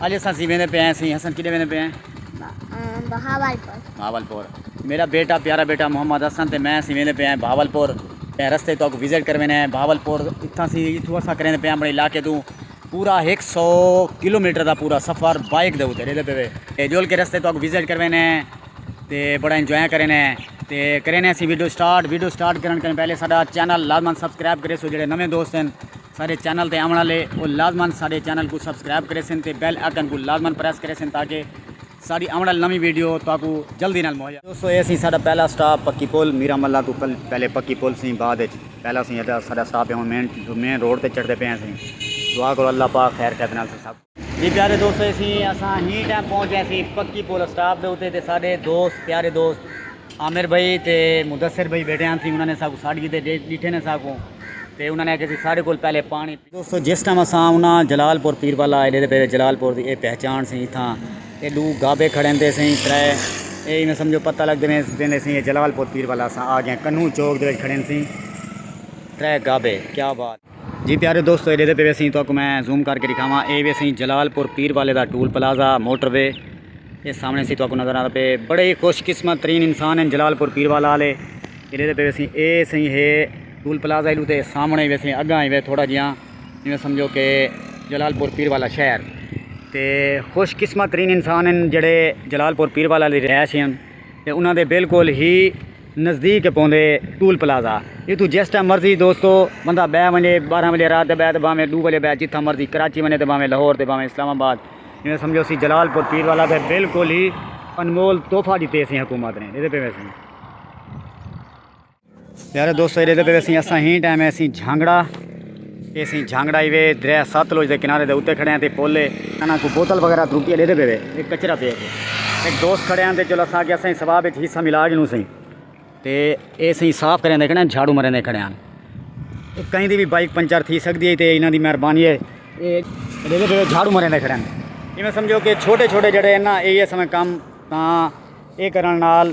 اڄ اساں سی ویندے پئے ہیں سی حسن کیڈے ویندے پئے ہیں بہاول پور بہاول پور میرا بیٹا پیارا بیٹا محمد حسن تے میں سی ویندے پئے ہیں بہاول پور تے رستے تو کو وزٹ کروینے ہیں بہاول پور اتھاں سی اتھوں اساں کریندے پئے ہیں اپنے علاقے تو پورا ایک سو کلو میٹر دا پورا سفر بائک دے اوتے ریدے پے اے جول کے رستے تو کو وزٹ کروینے ہیں تے بڑا انجوائے کرینے ہیں تے کرینے ہیں سی ویڈیو سٹارٹ ویڈیو سٹارٹ کرن کرن پہلے ساڈا چینل لازمن سبسکرائب کرے سو جڑے نویں دوست ہیں ساڈے چینل تے آونڑ آلے او لازمن ساڈے چینل کوں سبسکرائب کریسن تے بیل آئیکن کوں لازمن پریس کریسن تاکہ ساڈی آونڑ آلی نویں ویڈیو تہاکوں جلدی نال مہیا دوستو اے سی ساڈا پہلا سٹاپ پکی پل میرا ملہ توں پہلے پکی پل سی بعد اچ پہلا سی ساڈا سٹاپ ہے ہن مین مین روڈ تے چڑھدے پئے ہاں سی دعا کرو اللہ پاک خیر خیت نال ساکوں جی پیارے دوستو اسی اساں ہی ٹائم پہنچ گئے سی پکی پول اسٹاپ دے اتے تے ساڈے دوست پیارے دوست عامر بھائی تے مدثر بھائی بیٹھے ہن سی انہاں نے ساکو ساڈ کیتے ڈیٹھے نے ساکو تے انہاں نے آکھیا سی ساڈے کول پہلے پانی پی دوستو جس ٹائم اساں انہاں جلال پور پیر والا ایڈے دے پے جلال پور دی اے پہچان سی اتھاں اے ڈو گابے کھڑن تے سی ترے اے ایویں سمجھو پتہ لگ دے نے سی جلال پور پیر والا اساں آ گئے کنوں چوک دے کھڑن سی ترے گابے کیا بات جی پیارے دوستو ایڈے دے پہ ویسیں تو اکو میں زوم کر کے دکھاواں اے ویسیں جلال پور پیر والے دا ٹول پلازا موٹر وے اے سامنے سی تو اکو نظر آتا پہ بڑے ہی خوش قسمت ترین انسان ہیں جلال پور پیر والا آلے ایڈے دے پہ ویسیں اے سیں ہے ٹول پلازا ایلو تے سامنے ویسیں اگاں ہی وے تھوڑا جیاں جیوں سمجھو کہ جلال پور پیر والا شہر تے خوش قسمت ترین انسان ہیں جڑے جلال پور پیر والا لی رہائش ہیں تے انہاں دے بالکل ہی نزدیک ای پوندے ٹول پلازہ اتھوں جس ٹائم مرضی دوستو بندہ بہ ونجے بارہ وجے رات دے بہ تے بھاویں ڈو وجے بہ جتھاں مرضی کراچی ونجے تے بھاویں لاہور تے بھاویں اسلام آباد ایویں سمجھو اسی جلال پور پیر والا تے بالکل ہی انمول تحفہ ڈتے سی حکومت نے پیارے دوستو ایرے دے پہ اسیں اساں ہی ٹائم ہے اسیں جھانگڑا یہ اسیں جھانگڑا ہی وے دریا سات لوج دے کنارے دے اتے کھڑے ہیں تے پولے انہاں کو بوتل وغیرہ دروپیہ دے دے پہ وے ایک کچرہ پہ ایک دوست کھڑے ہیں تے چلو اساں کہ اسیں سواب ایک حصہ ملا جنوں سیں تے اے سیں صاف کریں دے کھڑے ہیں جھاڑو مریں دے کھڑے ہیں کہیں دی بھی بائک پنچر تھی سکتی ہے تے انہاں دی مہربانی ہے اے دے دے پہ جھاڑو مریں دے کھڑے ہیں یہ میں سمجھو کہ چھوٹے چھوٹے جڑے ہیں نا اے یہ سمیں کام تاں اے کرن نال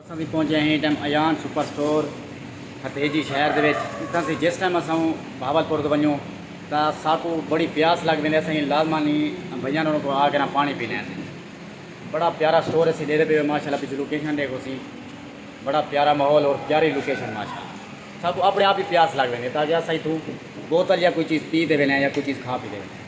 اساں تھی پہنچے ہیں ایں ٹائم ایان سپر سٹور ہتھیجی شہر دے وچ اتھاں تھی جس ٹائم اساں بھاول پور توں ونجوں تاں ساکوں بڑی پیاس لگ ویندے اساں لازما نی بھیاں نوں کو آ کر پانی پینے ہیں بڑا پیارا سٹور اسی ڈیرے پہ ماشاءاللہ پچھو لوکیشن ڈے کو سی بڑا پیارا ماحول اور پیاری لوکیشن ماشاءاللہ ساکوں اپنے آپ ہی پیاس لگ ویندے تاکہ اساں اتھوں بوتل یا کوئی چیز پی دے وینے یا کوئی چیز کھا پی دے وینے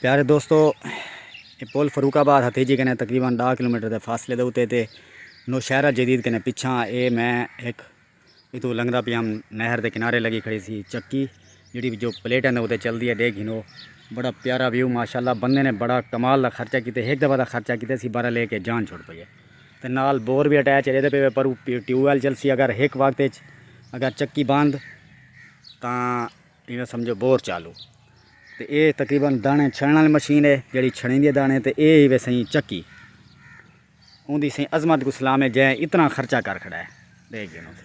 پیارے دوستو یہ پل فروخ آباد ہتیجی کنے تقریباً ڈاہ کلو میٹر دے فاصلے دے اتنے تے نوشہرہ جدید کنے پچھا اے میں ایک اتو لنگدا پیا ہم نہر دے کنارے لگی کھڑی سی چکی جڑی جو پلیٹ اندے اتنے چلدی ہے ڈیکھ گھنو بڑا پیارا ویو ماشاءاللہ بندے نے بڑا کمال دا خرچہ کیتے ایک دفعہ دا خرچہ کیتے سی بارہ لے کے جان چھوڑ پئی ہے۔ تے نال بور وی اٹیچ ہجے تے پے وے پر او ٹیوب ویل چلسی اگر ہک وقت اچ اگر چکی بند تاں ایویں سمجھو بور چالو تے اے تقریبا دانے چھنڑن والی مشین ہے جیڑی چھنڑیندی ہے دانے تے اے ہی وے سئیں چکی اوندی سئیں عظمت کوں سلام ہے جئیں اتنا خرچہ کر کھڑا ہے ڈے گھنوں تے۔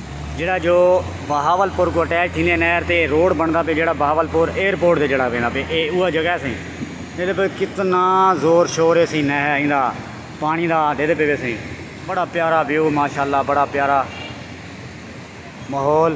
جیڑھا جو بہاول پور کوں اٹیچ تھیندے نہر تے روڈ بنڑدا پئے جیڑھا بہاول پور ایئر پورٹ دے جیڑھا ویندا پئے اے اوہا جگہ سی جیندے پئے کتنا زور شور ہے سی نہر ایندا پانی دا ڈیدھے پئے ویسے بڑا پیارا ویو ماشاءاللہ بڑا پیارا ماحول۔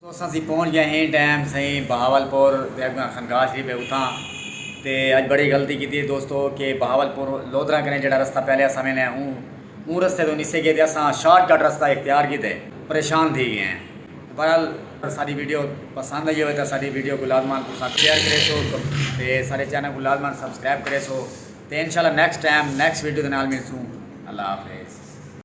تساں سی پہنچ گئے ہیں ٹائم سئی بہاول پور دے اگاں خنگاہ شریف ہے اتھاں تے اج بڑی غلطی کیتی ہے دوستو کہ بہاول پور لودھراں کنیں جیڑا رستہ پہلے اساں ویندے ہیں اوں اوں رستے توں نسے گئے تے اساں شارٹ کٹ رستہ اختیار کیتے پریشان تھی گئے ہیں بہرحال ساڈی ویڈیو پسند آئی ہووے تاں ساڈی ویڈیو کوں لازمان تساں شیئر کریسو تے ساڈے چینل کوں لازمان سبسکرائب کریسو تے انشاءاللہ نیکسٹ ٹائم نیکسٹ ویڈیو دے نال ملسوں اللہ حافظ۔